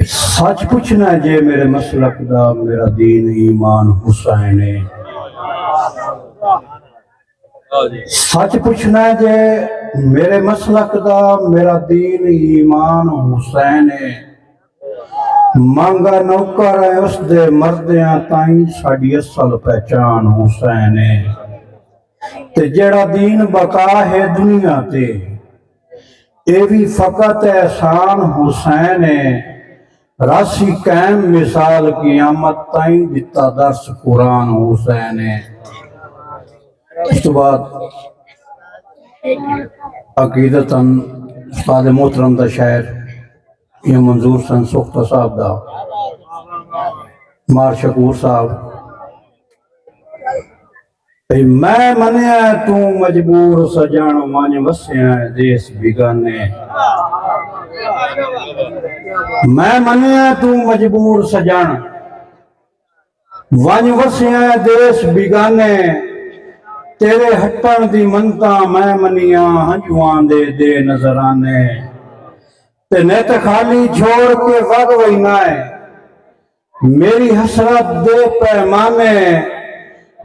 سچ پوچھنا ہے جے میرے مسلک دا میرا دین ایمان حسین ہے سچ پوچھنا ہے جے میرے مسلک دا میرا دین ایمان حسین ہے مانگا نوکر ہے اس دے مردیاں تائیں ساڑی اصل پہچان حسین ہے تے جڑا دین بقا ہے دنیا تے اے وی فقط احسان حسین اے راسی قائم مثال قیامت تائیں ڈتا درس قرآن حسین اے اس تو بعد عقیدت استاد محترم دا شاعر یہ منظور سن سختہ صاحب دا مار شکور صاحب میں منیا ہے توں مجبور سجن ونج وسیا ہے دیس بیگانے میں منیا ہے توں مجبور سجن ونج وسیا ہے دیس بیگانے تیرے ہٹن دی منتا میں منیا ہنجوان دے دے نظرانے تے نیت خالی چھوڑ کے وگ وینا ہے میݙی حسرت دے پیمانے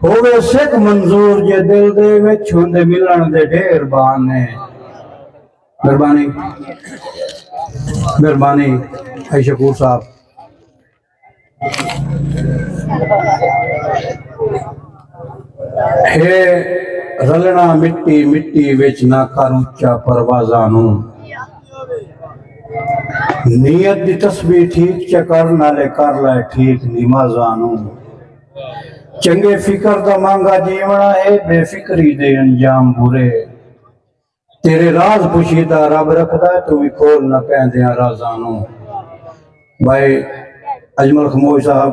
ہووے سک منظور جے دل دے وچ ہوندے ملݨ دے ڈھیر بہانے مہربانی مہربانی اے شکور صاحب ہے رلنا مٹی مٹی وچ نہ کر اچا پروازاں نوں نیت دی تسبیح ٹھیک چکر نالے کر لائے ٹھیک نیما زانو چنگے فکر دا مانگا جیونا ہے بے فکری دے انجام برے تیرے راز پوشیدہ رب رکھدا ہے تو بھی کھول نہ کہیں دیاں رازانو بھائی اجمل خموش صاحب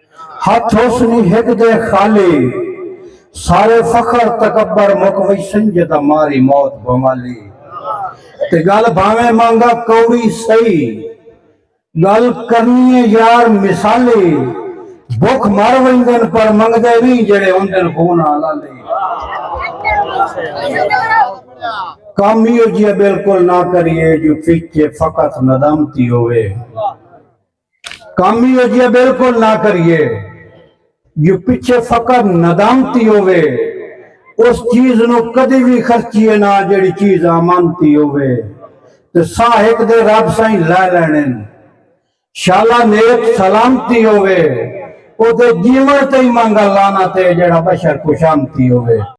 ہتھ ہوسنی ہک دے خالی سارے فخر تکبر مک ویسن جدا ماری موت بھوالی تے گل بھاویں مانگا کوڑی سئی گل کرنیے یار مثالی بھک مر ویندن پر منگدے نہیں جڑے ہوندن خون حلالی کم ہی ہو جیا بالکل نہ کریے جو پیچھے فقط ندامتی ہوئے کم ایہو جیہا بالکل نہ کریے جو پچھے فقط ندامتی ہووے، اس چیز نوں کدی وی خرچیے نہ جیہڑی چیز آمانتی ہووے تے ساہ ہک دے رب سئیں لے لینن۔ شالا نیک سلامتی ہووے، او دے جیوݨ تے ای مانگا لعنت اے جیہڑا بشر خوشامتی ہووے۔